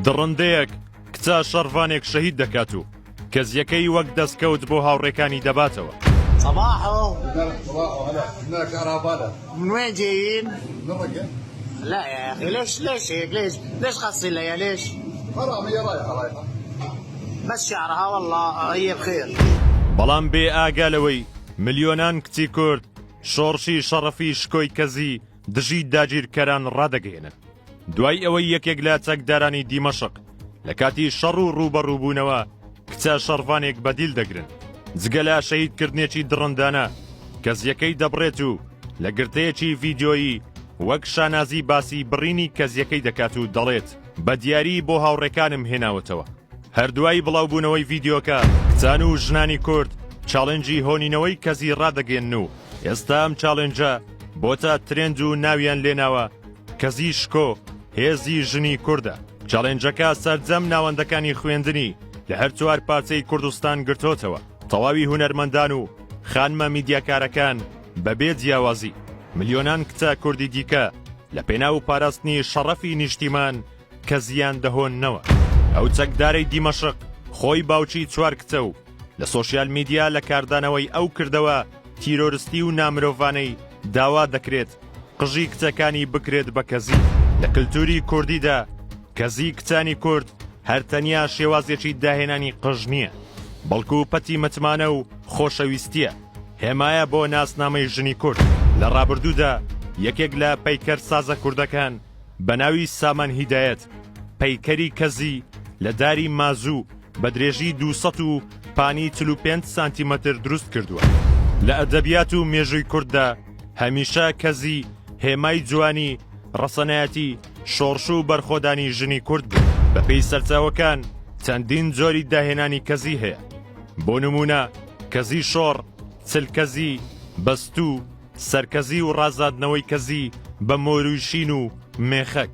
دڕندەیەک کچە شەڕڤانێک شەهید دەکات و کەزیەکەی وەک دەستکەوت بۆ هاوڕێکانی دەباتەوە. بەڵام بێ ئاگا لەوەی ملیۆنان کچی کورد شۆڕشی شەڕەفی شکۆی کەزی، دژی داگیرکەران ڕادەگەیەنن. دوای ئەوەی یەکێک لە چەکدارانی دیمەشق لە کاتی شەڕ و ڕووبەڕووبوونەوە کچە شەڕڤانێک بەدیل دەگرن جگە لە شەیدکردنێکی دڕندانە کەزیەکەی دەبڕێت و لە گرتەیەکی ڤیددیۆیی وەک شانازی باسی بڕینی کەزیەکەی دەکات و دەڵێت بە دیاری بۆ هاوڕێکانم هێناوەتەوە هەردوای بڵاوبوونەوەی ڤیددیۆکە کچان و ژنانی کورد چاڵنجی هۆنینەوەی کەزی ڕادەگەن و ئێستا ئەم چاڵنجە بۆتە ترێند و ناویان لێناوە کەزی شکۆ هێزی ژنی کوردە. چەڵێنجەکە سەرجەم ناوەندەکانی خوێندنی لە هەر چوار پارچەی کوردستان گرتۆتەوە، تەواوی هونەرمەندان و خانمە میدیاکارەکان بەبێ جیاوازی، ملیۆنان کچە کوردی دیکە لە پێناو پاراستنی شەڕەفی نیشتیمان کەزیان دەهۆننەوە. ئەو چەکدارەی دیمەشق خۆی باوکی چوار کچە و، لە سۆشیال میدیا لە کاردانەوەی ئەو کردەوە تیرۆرستی و نامرۆڤانەی داوا دەکرێت قژی کچەکانی بکرێت بە کەزی لە کللتوری کوردیدا کەزی کچانی کورد هەرتەنیا شێوازێکی داهێنانی قژ نییە بەڵکو پەتی متمانە و خۆشەویستیە هێمایە بۆ ناسنامەی ژنی کورد لە ڕابردوودا یەکێک لە پەیکەر سازە کوردەکان بە ناوی سامان هیدایەت پەیکەری کەزی لە داری مازوو بە درێژی دوو سەد و پانی چل و پێنج سانتیمەتر دروست کردووە. لە ئەدەبیات و مێژووی کورددا هەمیشە کەزی هێمای جوانی، ڕەسەنایەتی، شۆڕش و بەرخۆدانی ژنی کورد بوو. بەپێی سەرچاوەکان چەندین جۆری داهێنانی کەزی هەیە. بۆ نموونە کەزی شۆڕ، چلکەزی، بەستوو، سەرکەزی و ڕازادنەوەی کەزی بە مۆروی شین و مێخەک.